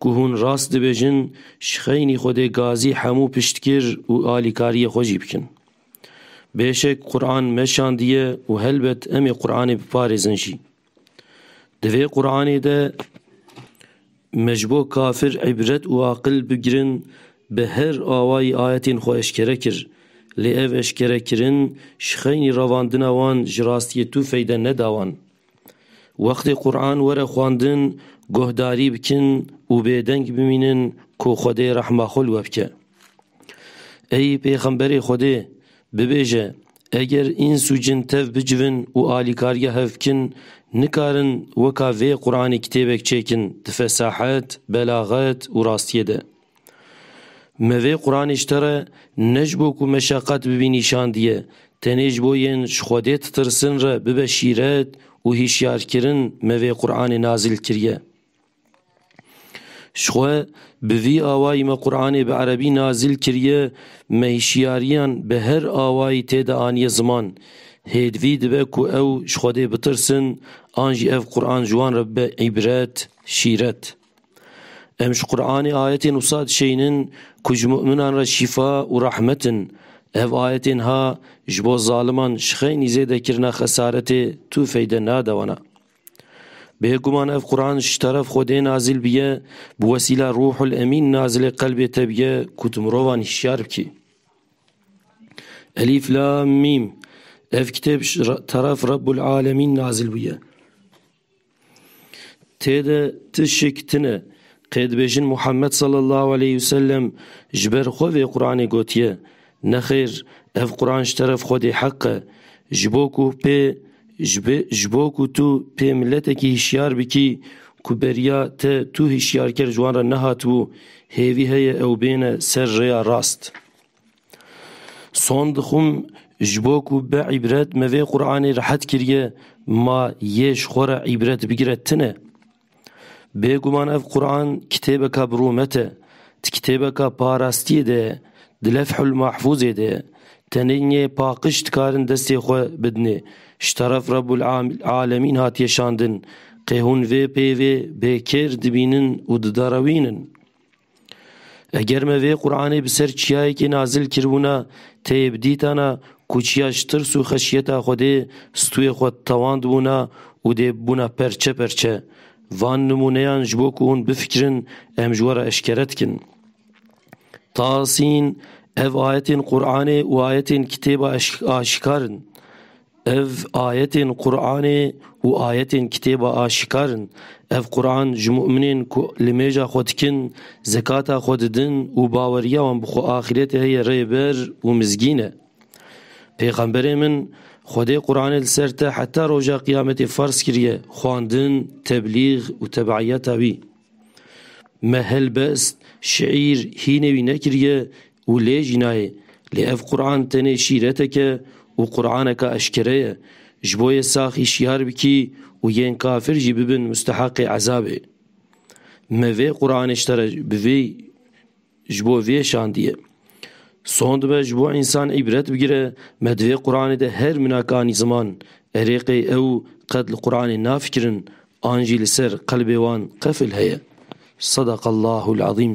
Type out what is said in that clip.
Ku hûn rast dibêjin, ji xeynî Xwedê gazî hemû piştgir û alîkariyê xwe jî bikin. Bêşek Quran meşandiye û helbet em ê Quranê biparêzin jî. Di vê Quranê de me ji bo kafir îbret û aqil bigirin bi her awayî ayetên xwe eşkere kir. Lê ev eşkerekirin ji xeynî revandina wan ji rastiyê tu feyde neda wan. Wextê Quran were xwendin guhdarî bikin û bêdeng bimînin ku Xwedê rehma xwe li we bike. Ey Pêxemberê Xwedê! Bibêje, eger îns û cin tev bicivin û alîkariya hev bikin, nikarin weka vê Quranê kitêbek çêkin di fesahet, belaxet û rastiyê de. Me vê Quranê ji te re ne ji bo ku meşeqet bibî nîşan diye, tenê ji bo yên ji Xwedê ditirsin re bibe şîret û hîşyarkirin me vê Quranê nazil kiriye. Ji xwe bi vî awayî me Quranê bi erebî nazil kiriye, me hîşyariyan bi her awayî tê de aniye ziman. Hêdivî dibe ku ew ji Xwedê bitirsin an jî ev Quran ji wan re bibe îbret, şîret. Em ji Quranê ayetên wisa dişeyînin ku ji mu'minan re şîfa û rehmet in. Ev ayetên ha ji bo zaliman ji xeynî zêde kirina xesaretê tu feyde nade wana. Bêguman ev Quran ji teref Xwedê nazil biye, bi wesîla Ruhul Emîn nazilê qelbê te biye ku tu mirovan hişyar bikî. Elîf Lam Mîm Ev kitêb ji teref Rebbul Alemîn nazil bûye. Tê de ti şik tine, qê dibêjin Muhammed sallallahu aleyh û sellem ji ber xwe vê Quranê gotiye. Nexêr, ev Quran ji teref Xwedê heq e. Ji bo ku pê ji bo ku tu pê miletekî hişyar bikî ku beriya te tu hişyarker ji wan re nehatibû, hêvî heye ew bêne ser rêya rast. Son dixwim ji bo ku bi îbret me vê Quranê rehet kiriye ma yê ji xwe re îbret bigire tune. Bêguman ev Quran kitêbeka bi rûmet e. Ti kitêbeka parastiyê de ye. Di Lefhul Mahfûzê de ye. Tenênî paqij dikarin destê xwe bidinê. Ji teref Rebul Alemîn hatiye şandin. Qê hûn vê peyvê bê kêr dibînin û diderewînin? Eger me vê Quranê bi ser çiyayekê nazil kiribûna tê bi dîtana ku çiya ji tirs û xeşyeta Xwedê stûyê xwe tewand bûna û dê bûna perçe perçe. Van nimûneyan ji bo ku hûn bifikirin em ji we re eşkere dikin. Tasîn, Ev ayetên Quranê û ayetên kitêba aşikar in. Ev ayetên Quranê û ayetên kitêba aşikar in. Ev Quran ji mu'minên ku limêja xwe dikin, zekata xwe didin û baweriya wan bi xwe axîretê heye rê bir û mizgîn e. Pêxemberê min, Xwedê Quranê li ser te heta roja qiyametê ferz kiriye, xwandin, teblîg û tebeiyeta wî. Me helbest, şiîr, hînê wî nekiriye, Û lê jî nayê. Lê ev Quran tenê şîreteke û Quraneke eşkere ye. Ji bo yê sax hişyar bikî û yên kafir jî bibin mustehaqê ezabê. Me vê Quranê ji te re bi vê ji bo vê şandiye. Son dibe ji bo însan îbret bigire me di vê Quranê de her minakanî ziman erê qey ew qet li Quranê nafikirin an jî li ser qelbê wan qefil heye. Sadaqallahul azîm.